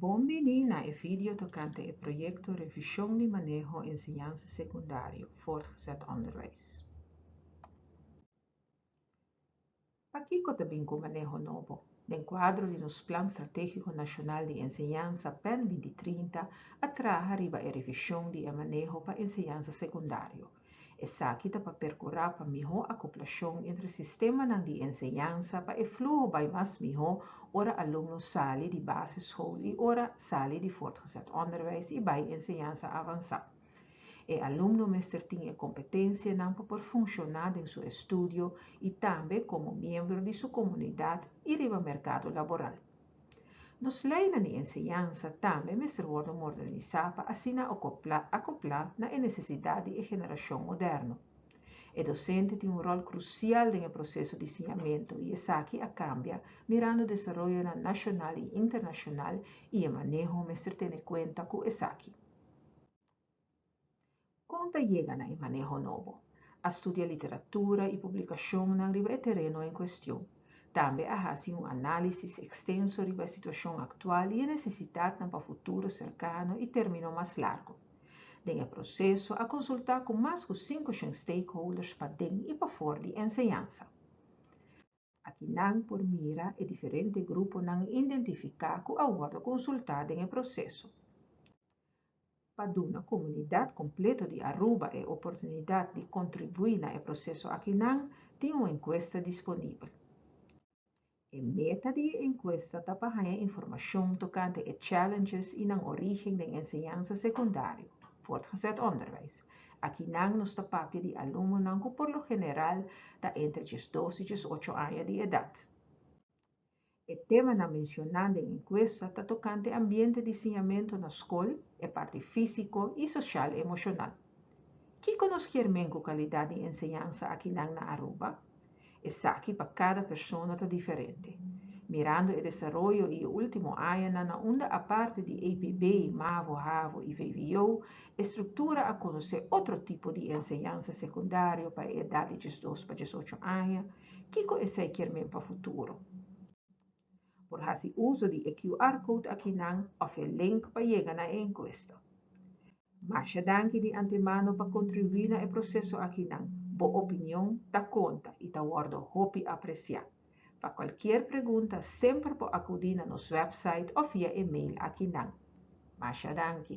Bon bini na e video tokante e proyekto Revishon di Maneho Enseñansa Sekundario, Voortgezet Onderwijs. Pakiko ta bin ku maneho nobo? Den kuadro di nos Plan Stratégiko Nashonal di Enseñansa, pen binti trinta, a traha riba e revishon di e maneho pa enseñansa sekundario. Esaki ta pa perkurá pa mihó akoplashon entre sistemanan di enseñansa pa e fluho bai mas mihó ora alumno sali di basischool i ora sali di voortgezet onderwijs i bai enseñansa avansá. E alumno mester tin e kompetensianan pa por funshoná den su estudio i tambe komo miembro di su komunidat i riba merkado laboral. Nos leinan i enseñansa tambe mester wòrdu mordanisá pa asina okoplá akoplá na e nesesidat di e generashon moderno. E dosente tin un ròl krusial den e proseso di siñamentu i esaki a kambia mirando desaroyonan nashonal i internashonal i e maneho mester tene kuenta ku esaki. Kon ta yega na e maneho nobo? A studia literatura i publikashonnan riba e tereno en kuestion. Tambe a hasi un análisis ekstenso riba e situashon aktual i e nesesitatnan pa futuro serkano i término mas largu. Den e proseso a konsultá ku mas ku sinku shen stakeholders paden i pafor di enseñansa. Aki nan por mira e diferente gruponan identifiká ku a wòrdu konsultá den e proseso. Pa duna komunidat kompleto di Aruba e oportunidat di kontribuí na e proseso aki nan tin un enkuesta disponibel. E meta di e enkuesta ta pa haña informashon tokante e challenges i nan orígen den enseñansa sekundario, voortgezet onderwijs, Akinan nos ta papia di alumnonan ku por lo general ta entre diesdos i diesocho aña di edat. E temanan menshoná den enkuesta ta tokante ambiente di siñamentu na skol, e parti físiko i soshal-emoshonal. Kiko nos kier men ku kalidat di enseñansa akinan na Aruba? Esaki pa kada persona ta diferente. Mirando e desaroyo i e último añanan na unda aparte di APB, mavo, havo i vvo, e struktura a konosé otro tipo di enseñansa sekundario pa e edat di diesdos pa diesocho aña, kiko esei kier men pa futuro? Por hasi uso di e QR code akinan of e link pa yega na e encuesta. Masha danki di antemano pa contribui na e proceso akinan, bo opinion ta conta y ta wordo hopi aprecia. Pa cualkier pregunta semper por acudi na nos website of via e-mail akinan. Masha danki.